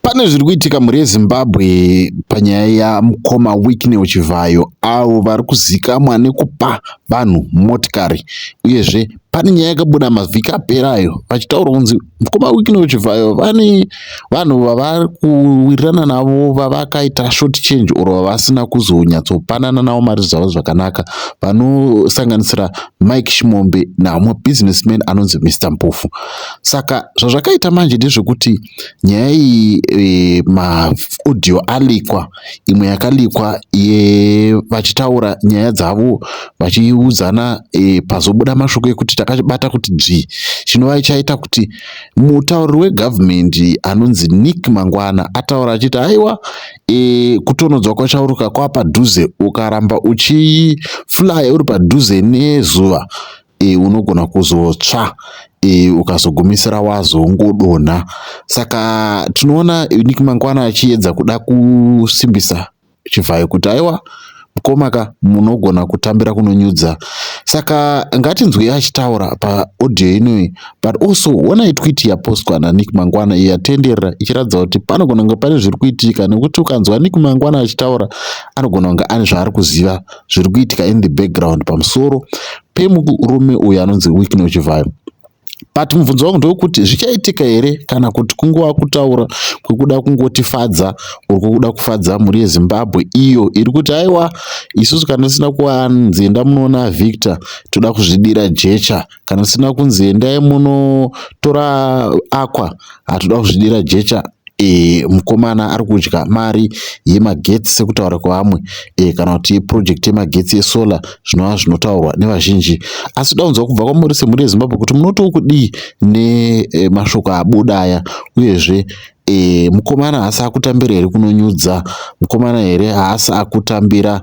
Pane zviri kuitika mhuri yeZimbabwe panyaya yamukoma Wicknell Chivhayo avo vari kuzikamwa nekupa vanhu motikari uyezve pane nyaya yakabuda mavhiki apera ayo vachitaura kunzi mukoma Wicknell Chivhayo vane vanhu vavari kuwirirana navo vavakaita short change or vavasina kuzonyatsopanana navo mari dzavo zvakanaka vanosanganisira Mike Chimombe naamwe businessman anonzi Mr Mpofu. Saka zvazvakaita manje ndezvekuti nyaya iyi e, maaudio alikwa, imwe yakalikwa ye vachitaura nyaya dzavo vachiudzana e, pazobuda mashoko ekuti takabata kuti dzvi chinova chaita kuti mutauriri wegovernment anonzi Nick Mangwana ataura achiti aiwa e, kutonhodzwa kwachauruka kwava padhuze ukaramba uchiflaya uri padhuze nezuva e, unogona kuzotsva e, ukazogumisira wazongodonha saka tinoona nick mangwana achiedza kuda kusimbisa chivhayo kuti aiwa Mkoma ka munogona kutambira kunonyudza saka ngatinzwei achitaura paaudio inoyi but also honai twit yapostwa nanick mangwana iyo yatenderera ichiratidza kuti panogona kunge pane zviri kuitika nekuti ukanzwa nick mangwana achitaura anogona kunge ane zvaari kuziva zviri kuitika in the background pamusoro pemurume uyo anonzi wicknochivayo but mubvunzo wangu ndewekuti zvichaitika here kana kuti kungova kutaura kwekuda kungotifadza or kwekuda kufadza mhuri yezimbabwe iyo iri kuti aiwa isusu kana tisina kuvanzi enda munoona victor toda kuzvidira jecha kana tisina kunzi endai munotora aqua hatoda kuzvidira jecha e, mukomana ari kudya mari yemagetsi sekutaura kwevamwe e, kana kuti yeprojekti yemagetsi yesolar zvinova zvinotaurwa nevazhinji asi toda kunzwa kubva kwamuri semhuri yezimbabwe kuti munotiwo kudii nemashoko e, abuda aya uyezve e, mukomana haasi akutambira here kunonyudza mukomana here haasi akutambira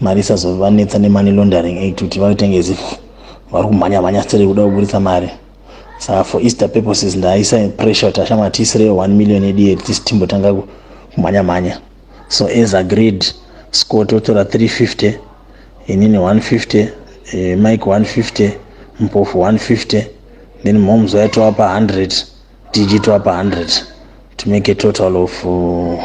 mari isazovanetsa nemoney laundering act kuti vaitenge as if vari kumhanya mhanya stere kuda kuburitsa mari saka for easter purposes ndaisa pressure kuti ashama tiisireyo one million yedu yedu tisi timbotanga kumhanya mhanya so as agreed scott otora 350 inini 150 eh, mike 150 mpofu 150 then moms waitova pa 100 dg tova pa 100 to make a total of uh,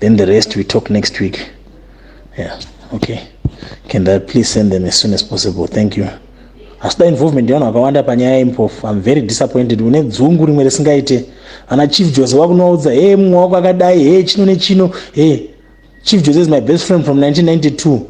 then the rest we talk next week yeah okay can that please send them as soon as possible thank you asida involvement yevanhu vakawanda panyaya yempofu im very disappointed une dzungu rimwe risingaite ana chief jose vakunovaudza he mumwe wako akadai he chino nechino he chief jose is my best friend from 1992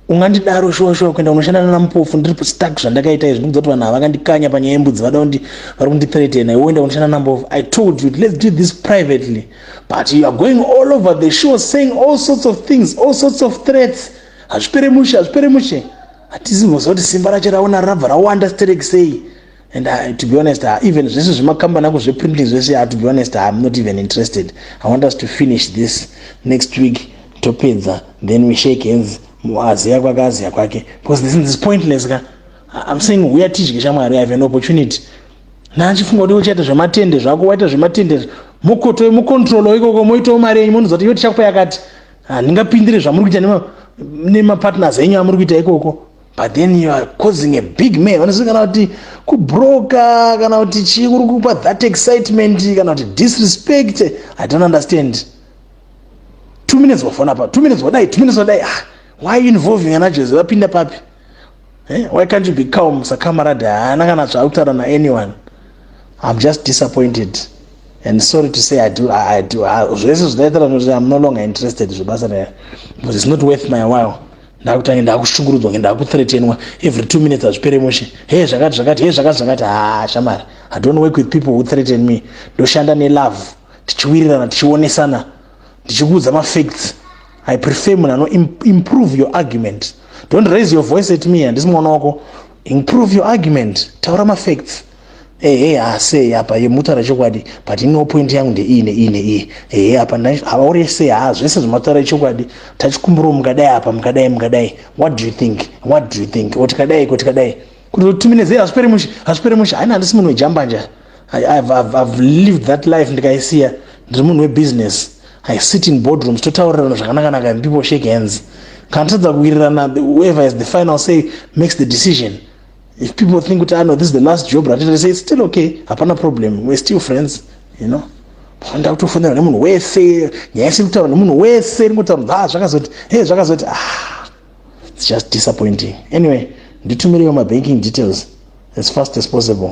ungandidaro shuwa shuwa kuenda kunoshanda nana mupofu ndiri stuck zvandakaita izvi ndikuti vanhu havakandikanya panyaya yembudzi vada kuti vari kundithreatena iwe uenda kunoshanda nana mupofu i told you let's do this privately but you are going all over the show saying all sorts of things all sorts of threats hazvipere mushe hazvipere mushe hatisi moziva kuti simba racho raona rabva rawanda stereki sei and I, to be honest uh, even zvese zvemakambani ako zveprinting zvese uh, to be honest uh, i'm not even interested i want us to finish this next week topedza then we shake hands aziya kwake aziya kwake because this is pointless ka i'm saying huya tidye shamwari i have an opportunity naachifunga kuti uchaita zvematende zvako waita zvematende mukotoe mucontrolo ikoko moitawo mari yenyu monoziva kuti iyo tichakupa yakati handingapindire zvamuri kuita nemapartners enyu amuri kuita ikoko but then you are causing a big man vanoziva kana kuti kubroka kana kuti chii kuri kupa that excitement kana kuti disrespect i don't understand two minutes wafona pa two minutes wadai two minutes wadai ah, why involving ana jose vapinda papi eh? why can't you be calm sakamaradi haana kana zvaakutaura na anyone i'm just disappointed and sorry to say i do i, I do zvese zvidaitira kuti i'm no longer interested zvebasa raya because it's not worth my while ndakutange ndakushungurudzwa nge ndakuthretenwa every two minutes hazvipere mushe he zvakati zvakati he zvakati zvakati haa shamari i don't work with people who threaten me ndoshanda nelove tichiwirirana tichionesana ndichikuudza mafacts i prefer munhu ano improve your argument don't raise your voice at me handisi mwana wako improve your argument taura mafacts ehe haasei apa ye mutaura chokwadi but ino point yangu ndeiyi neiyi neiyi ehe apa havaure sei haa zvese zvemataura echokwadi tachikumbirawo mukadai apa mukadai mukadai what do you think what do you think o tikadai ko tikadai kuti timinezei hazvipere mushe hazvipere mushe haina handisi munhu wejambanja ive lived that life ndikaisiya ndiri munhu webusiness i sit in boardrooms totaurirana zvakanakanaka and people shake hands kana tatadza kuwirirana whoever is the final say makes the decision if people think kuti ano ah, this is the last job ratita they say it's still okay hapana problem we're still friends you know panda kutofonera nemunhu wese nyaya isiri kutaura nemunhu wese ringotaura kuti ah zvakazoti hey zvakazoti ah it's just disappointing anyway nditumireiwo mabanking details as fast as possible